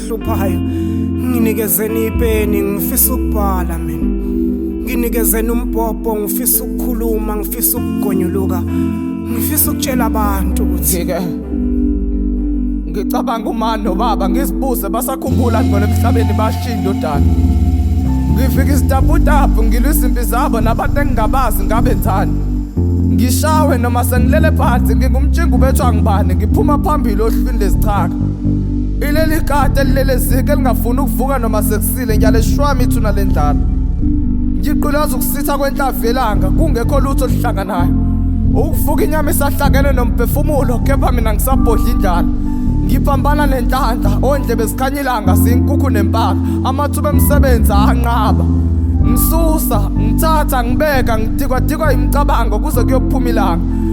engihluphayo nginikezeni ipeni ngifisa ukubhala mina nginikezeni umbhobho ngifisa ukukhuluma ngifisa ukugonyuluka ngifisa ukutshela abantu ukuthi ke ngicabanga umani nobaba ngizibuze basakhumbula ngibona emhlabeni bashiya indodana ngifika isitaputapu ngilwa izimpi zabo nabantu engingabazi ngabe nzani ngishawe noma sengilele phansi ngingumtshinga ubethwa ngibani ngiphuma phambili ohlwini lezichaka Ileli kati elilelezike elingafuni ukuvuka noma sekusile ngiyaleshwami ithuna lendlala. Ngiqulaza ukusitha kwenhlavu yelanga kungekho lutho oluhlanganayo. Ukuvuka inyama isahlangene nomphefumulo kepha mina ngisabhodla indlala. Ngiphambana nenhlanhla ondlebe zikhanya ilanga siyinkukhu nempaka amathuba emsebenzi anqaba. Ngisusa, ngithatha, ngibeka, ngidikwadikwa imicabango kuze kuyophuma ilanga.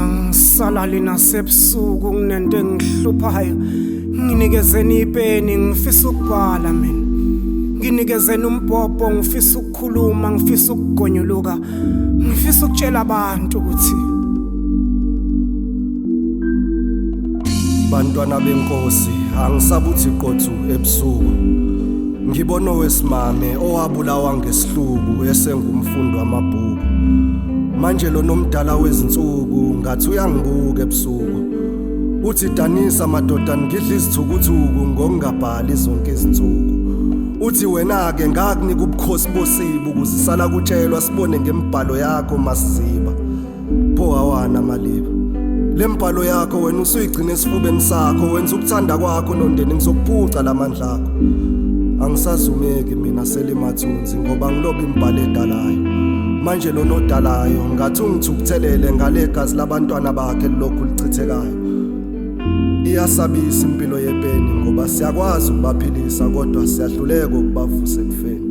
angisalali nasebusuku nginento engihluphayo nginikezeni ipeni ngifisa ukubhala mina nginikezeni umbhobho ngifisa ukukhuluma ngifisa ukugonyuluka ngifisa ukutshela abantu ukuthi bantwana benkosi angisabuthi qothu ebusuku ngibona owesimame owabulawa ngesihluku esengumfundi wamabhuku manje lo nomdala wezinsuku ngathi uyangibuka ebusuku uthi danisa madoda ngidla izithukuthuku ngokungabhali zonke izinsuku uthi wena-ke ngakunika ubukhosi bosibu kuzisala kutshelwa sibone ngembhalo yakho masiziba pho hawana maliba le mbhalo yakho wena usuyigcina esifubeni sakho wenza ukuthanda kwakho nondeni ngizokuphuca la mandla akho angisazumeki mina selimathuna ngoba ngilobe imbhalo edalayo manje lona odalayo ngathi ungithukuthelele ngale gazi labantwana bakhe lilokhu lichithekayo iyasabisa impilo yepeni ngoba siyakwazi ukubaphilisa kodwa siyahluleka ukubavusa ekufeni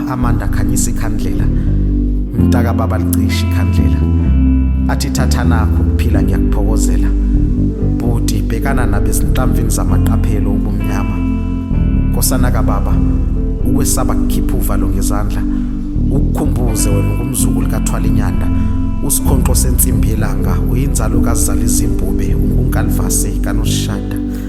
amanda khanyisa ikhandlela mntaka baba licisha ikhandlela athi thatha nakho ukuphila ngiyakuphokozela bhuti bhekana nabezinhlamvini zamaqaphelo ubumnyama nkosana kababa ukwesaba kukhipha uvalo ngezandla ukukhumbuze wena ungumzukulu kathwala inyanda usikhonqo sensimbi yelanga uyinzalo kazizala izimbube ungunkalvase kanoshada